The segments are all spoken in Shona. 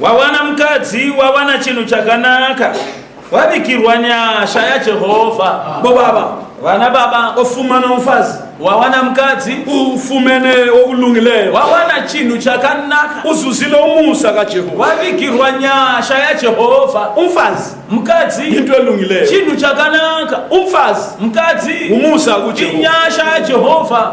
wawana mukadzi wawana chinhu chakanaka wabikirwa nyasha yajehovha bobaba vana baba ofumana mufazi wawana mukadzi ufumene okulungileyo wawana chinhu chakanaka uzuzile umusa kajehovha wabikirwa nyasha yajehovha umfazi mukadzi into elungileyo chinhu chakanaka umfazi mukadzi umusa kujehovha inyasha yajehovha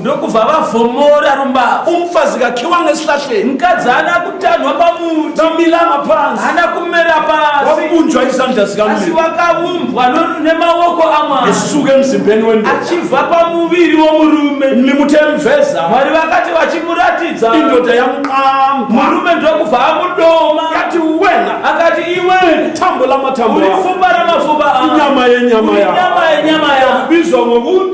ndokubva vavhomora rumbava umufazi kakiwa ngesihlahleni mukadzi haana kutanhwa pamuti nomilama pansi haana kumera pasi wakubunjwa izandla zikaasi wakaumbwa nemaoko amwari esuke emzimbeni wendo achibva pamuviri womurume nimutemveza mwari vakati vachimuratidza indoda yamuqama murume ndokubva amudoma akati wena akati iwe tambo lamatambo uri fumba ramafuba inyama yenyama ya inyama yenyama ya kubizwa ngokuti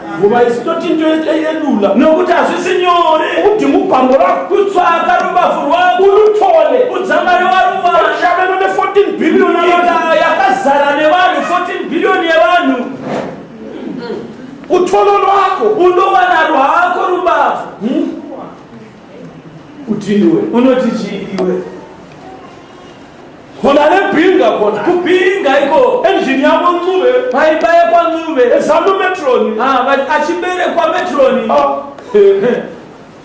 Nguva isi toti ndoita yedula nokuti hazvisi nyore kuti mupango lwako kutsvaka rubavu rwako ulutole udzamari waruva shameno ne-14 billion nyika yakazara nevanhu 14 billion yevanhu utolo lwako unowana rwako rubavu hmm? Kuti ndiwe unoti chii iwe? Kona nebhinga kona. Kubhinga iko. Engine yako Ncube. Paibaya kwa Ncube. Ezanu Metron. Ah, but achiberekwa Metron. Ah.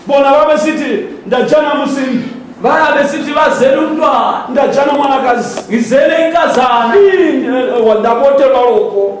Bona vabe siti ndajana musimbi. Vabe siti vazere umntwana. Ndajana mwanakazi. Ngizele inkazana. Ini eh, wandapotelwa loko.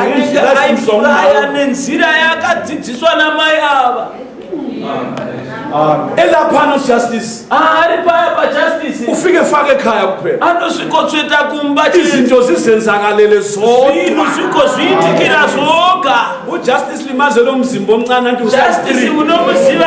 anenge aifuraya nenzira yakadzidziswa namai ava enda pano justice ari paya pajustice ufike fake khaya kuphela anosvikotsveta kumba izinto zizenzakalele zoinu zvikozviitikira zvoga ujustice limaze lomzimba omncane anti justice munomuziva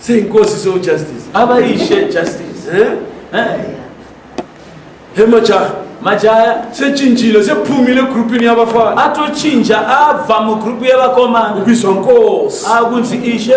Say inkosi so justice. Abayishe justice. Eh? Eh. Hey majaha. Majaya sechinjilo sephumile egroupini yabafana. Atochinja abva mugroup yevakomana. Ubizwa nkosi. Akunzi ishe.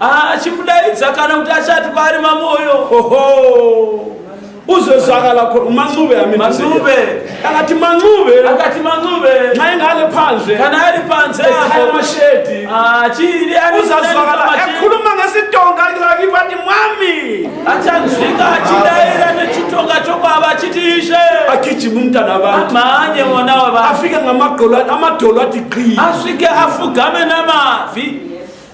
achimudaidza kana kuti achati kwaari mamoyo oho uzozvakala mancube amincube akati mancube akati mancube mainge ale panze kana ari panze apo mashedi achiri ah, uzazvakala akhuluma ngesitonga ngivati mwami achanzwika achidaira nechitonga chokwava achiti ishe agijima umntana vantu amhanye mwana wavantu afike ngamadolo amadolo ati qii asvike afugame namabvi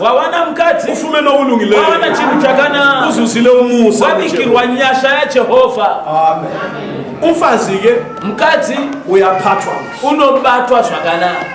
wawana mukadzi ufume nokulungileyo wawana chinhu chakanaka uzuzile umusa wabikirwa nyasha yajehovha umfazi ke mukadzi uyaphathwa unobatwa zvakanaka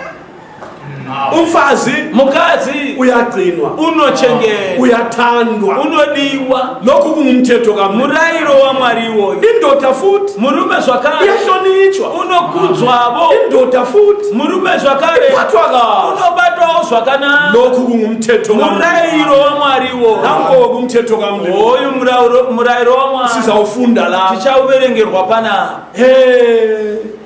umfazi mukadzi uyagcinwa unochengetwa uyathandwa unodiwa Nokuku mumteto ka murairo waMwari iwoyo. Indota futi. Murume zvakare. Yashonichwa. Unokudzwavo. Indota futi. Murume zvakare. Ibatwa ka. Unobatwawo zvakanaka. Nokuku mumteto ka. Murairo waMwari iwoyo. Nango kumteto ka mteto. Hoyu murairo waMwari. Sizaufunda la. Tichauverengerwa pana. Hey.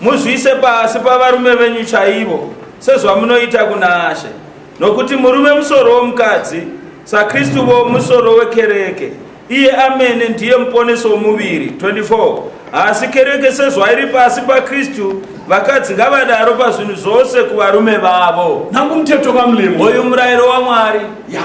Muzviise pasi pavarume venyu chaivo, sezvamunoita kuna She, nokuti murume musoro womukadzi, saKristuvo musoro wekereke, iye amene ndiye muponesi womuviri. 24 asi kereke sezvairi pasi paKristu, vakadzi ngavadaro pazvinhu zvose kuvarume vavo. Nangu mteto kamlemo. Uyu murayiro waMwari. Yeah.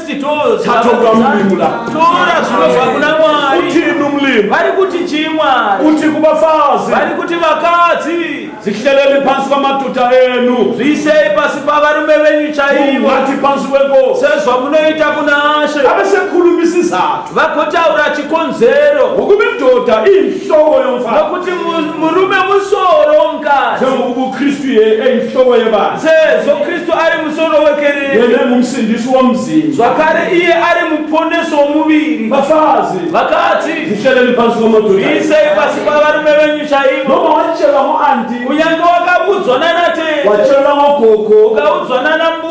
tatonga mulimu la tora zvinobva kuna mwari utini mulimu vari kuti chii mwari uti kuvafazi vari kuti vakadzi zihleleni pasi pamatuta enu zviisei pasi pavarume venyu chaivo ati pasi wengo sezvamunoita kunashe ave sekhulumisizana vagotaura chikonzero wokuti ndoda inhloko yomfazi nokuti mu- murume musoro womukadzi njengoba ubukristu ye eyinhloko yebandla sezvo kristu ari musoro wekereke yena engumsindisi womzimba zvakare iye ari muponesi womuviri bafazi vakadzi zihleleni phansi komoduli iisei pasi pavarume venyu chaivo noma watshelwa ngo-anti kunyange wakabudzwa nanatete watshelwa ngogogo ukaudzwa nanambu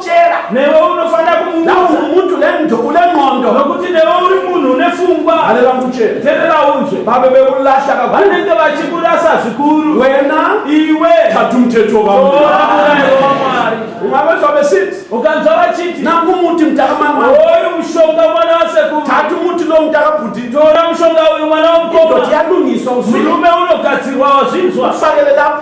chera newe unofanira kumumuntu une ndxondo nokuti newe uri munhu une fungwa hanera muchera terera unzwe babe vekulahla vanenge vachikurasa zvikuru wena iwe tatu muteto vamwari umave zvave siti ukanzwa vachiti nangu muti mtakamama oyu mushonga mwana wasekuru tatu muti no mtakabhuti tora mushonga uyu mwana womukoma yadungiswa murume unogadzirwa wazvinzwa sakelelapo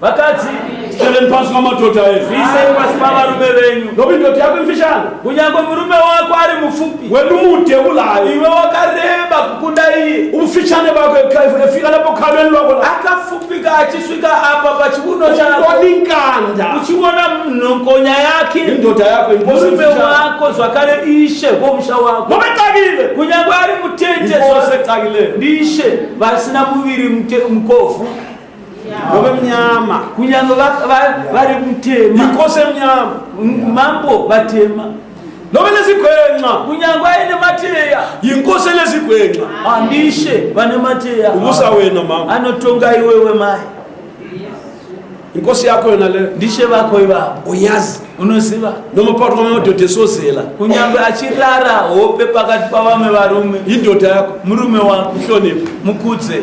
Vakadzi, tichereni pasi pamadhodha edu. Zviisei pasi pavarume venyu. Nokuti ndoti yako imfishane. Kunyange murume wako ari mupfupi. Wedu mude kulayo. Iwe wakareba kukunda iye. Ubufishane bwako efika lapo khalweni lwako. Akafupika achisvika apa pachiuno chako. Uoni nkanda. Uchiona nhokonya yake. Indodha yako imbosi mfishane. Murume wako zvakare ishe womusha wako. Ngome takile. Kunyange ari mutete. Ngose takile. Ndishe vasina muviri mkofu. Ngobe mnyama. Kunyange vari mutema. Ndikose mnyama. Mambo vatema. Ngobe lezigwenxa. Kunyange ayine mateya. Yinkosi lezigwenxa. Andishe vane mateya. Ubusa wena mama. Anotonga iwewe mai. Inkosi yakho yona le. Ndishe vakho ibaba. Uyazi. unoziva nomupato wamadoda esozela kunyange achirara hope pakati pavamwe varume indoda yako murume wako hlonipha mukudze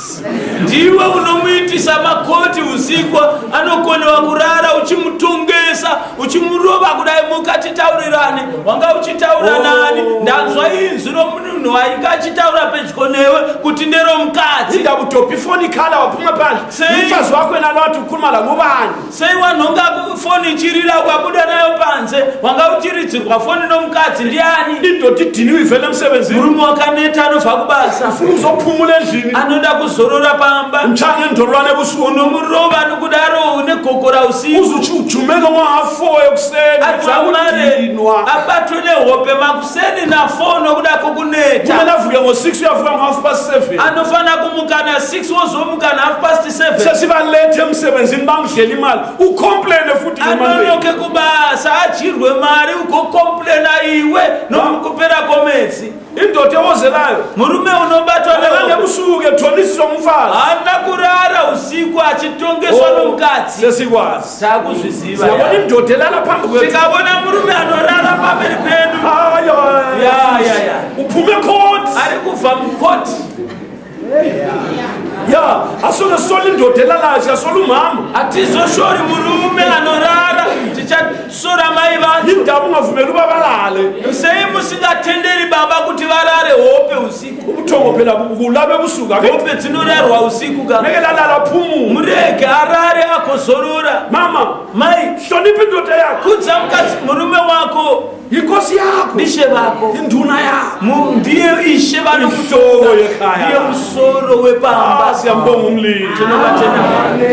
ndiwe unomuitisa makoti usiku anokonewa kurara uchimutongesa uchimurova kudai muka titaurirane wanga uchitaura oh. nani ndanzwa inzwi romunhu wainge achitaura pedyo newe kuti nderomukadzi ndakutopifoni kala wapuma panzi sei mfazi wako enanoti ukurumala nguvani Sei wanhonga foni ichirira ukabuda nayo panze? Wanga uchiridzirwa foni nomukadzi ndiani? Indoti dhini uivhele musebenzi. Murume wakaneta anobva kubasa. Ufuna uzopfumule zvini? Anoda kuzorora pamba. Mchane ndorwa nebusuku. Unomurova nokudaro une gokora usiku. Uzuchi ujumeka mwahafoyo kuseni. Adzamare abatwe nehope makuseni. Seni na 4 nokuda kokuneta. Mume navuka ngo 6 uyavuka ngo half past 7. Anofana kumuka na 6 wozomuka na half past 7. Sesi va late emsebenzini bamudlele imali. U complain futhi ngemali. Anonoke kubasa ajirwe mali ugo complain iwe nomukupera komedzi. Indoda ewozelayo. Murume unobatwa nawo. Ngebusuku ethonisiswa umfazi. Hana kurara usiku achitongeswa oh, nomukadzi. Sesikwazi. Siyaone mdode lala pambi kwedu. Tikabone murume anorara pambi kwedu. Ayo. Ya ya ya. Upume court. Ari kuva mu court. Ya, asona soli mdode lala asha soli mama. Atizo shori murume anorara. Ticha sora mai vangu. Indamu ngavumelu babalale. Sei musingatenderi baba kuti varare hope usi. ubuthongo phela bulabe busuku ake ngobe dzinorarwa usiku ka ngeke lalala phumule murege arare akozorora mama mai hlonipha indoda yakho kudza mukadzi murume wako yinkosi yakho ndishe vako induna yakho Mu- ndiye ishe Isoro vanokutonga yekhaya. ndiye musoro Ah, wepamba siyambonga umlilo tinovatenda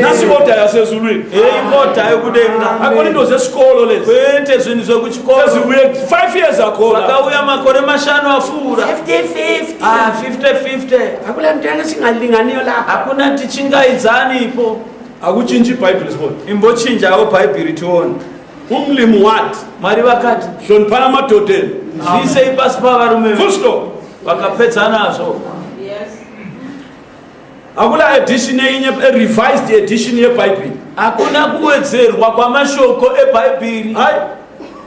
nasi oda yasezulwini heyi moda yokudenga akona into zesikolo lezi kwete zvinhu zvekuchi chikoro. Five years ago. Pakauya makore mashanu afura. 50-50. Ah, 50-50. Hakuna mtanga singalinganiyo la. Hakuna tichingaidzani ipo. Hakuchinji Bible sibona. Imbochinjawo Bible tione. Umlimu what? Mwari vakati. Hloniphana madoda enu. Zviisei pasi pavarume. Full stop. Vakapedza nazvo. Hakuna edition yenye a revised edition yeBhaibheri. Hakuna kuwedzerwa kwamashoko eBhaibheri. Hai.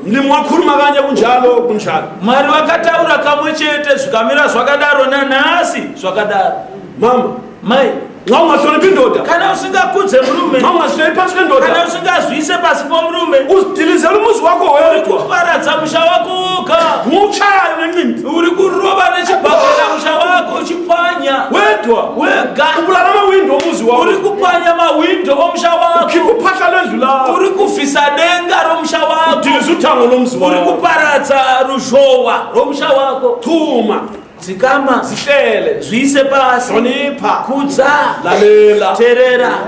Ndi mwakuru makanya kunjalo kunjalo. Mwari vakataura kamwe chete zvikamira zvakadaro nanhasi zvakadaro. Mama, mai nxa ungahloniphi indoda kana usingakudze mrume nxa ungahloniphi phansi kwendoda kana usingazwise pasi pomrume uzidilizela umuzi wakho wedwa uparadza musha wakho woga ngutshayo ngenqindi uri kurova nechibhakera musha wako uchipwanya wedwa wega kubulala mawindo omuzi wako uri kupwanya mawindo omusha wako ukikuphatha lendlu lakho uri kuvhisa denga romusha wako udiliza uthango lomzi uri wako kuparadza ruzhowa rwomusha wako thuma dzikama zihlele zviise pasi hlonipha kudza lalela terera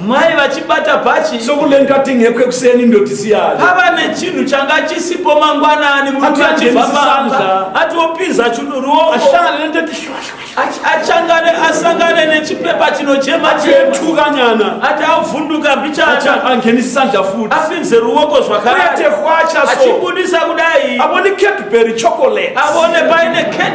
mai vachibata bhachi sokulenkating yekwekuseni ndotisiyana pava nechinhu changa chisipo mangwanani murume achibva panza ati opinza chuduruoko achangane asangane nechipepa chinochema chetukanyana ati avhunduka mbichana angenisi sandla futi apinze ruoko zvakaaachibudisa kudai avone cadbury chocolate avone paine cadbury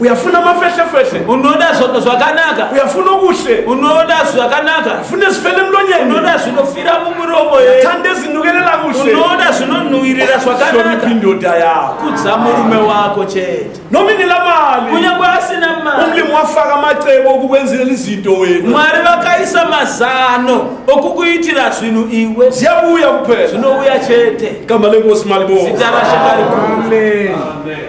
uyafuna mafeshefeshe unoda zva- zvakanaka uyafuna ubuhle unoda zvakanaka uyafuna zifele emlonyeni unoda zvinofira mumuromo here thanda ezinukelela kuhle unoda zvinonhuwirira hlonipha zvakanaka indoda yakho kudza murume wako chete noma inelamali kunyange asina mari umlimi wafaka amacebo okukwenzelela izinto wena mwari vakaisa mazano okukuitira zvinhu iwe ziyabuya kuphela zvinouya chete igama lenkosi malibonga zita rashe ngarikuru Amen.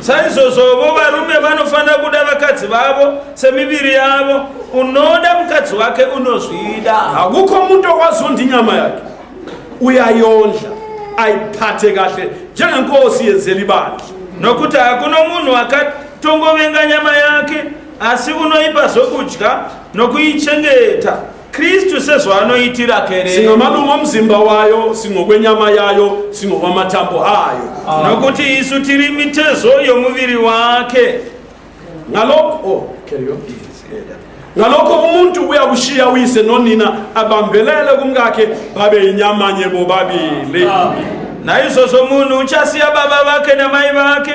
Saizvozvovo varume vanofanira kuda vakadzi vavo semiviri yavo. Unoda mukadzi wake unozvida. Hakukho muntu okwazondi inyama yakhe. Uyayondla, ayiphathe kahle njengenkosi yenzela ibandla. Nokuti hakuna munhu akatongovenga nyama yake, asi unoipa zvokudya nokuichengeta. Kristu sezvaanoitira kereke. Singa madungwa muzimba wayo, singo kwenyama yayo, singo kwamatambo ayo. Ah. Nokuti isu tiri mitezo yomuviri wake. Ngaloko, oh, carry on. ngalokho umuntu uyakushiya uyise nonina abambelele kumkakhe babe inyama nye bobabili nayizo zomuntu uchasiya baba bakhe namayi bakhe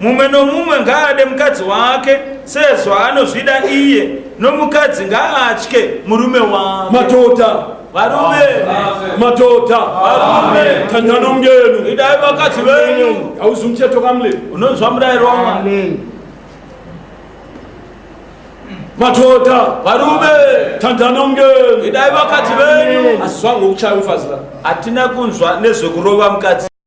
Mumwe nomumwe ngaade mukadzi wake sezvaanozvida iye, nomukadzi ngaatye murume wake. Madhodha, Varume, madhodha, varume, tandana umngenu. idai vakadzi venyu. Hauzi umthetho kaMlimi. Unonzwa murayiro waMwari. Madhodha, Varume, tandana umngenu. idai vakadzi venyu. Asizwa ngokuchaya umfazi la. Hatina kunzwa nezvekurova mukadzi.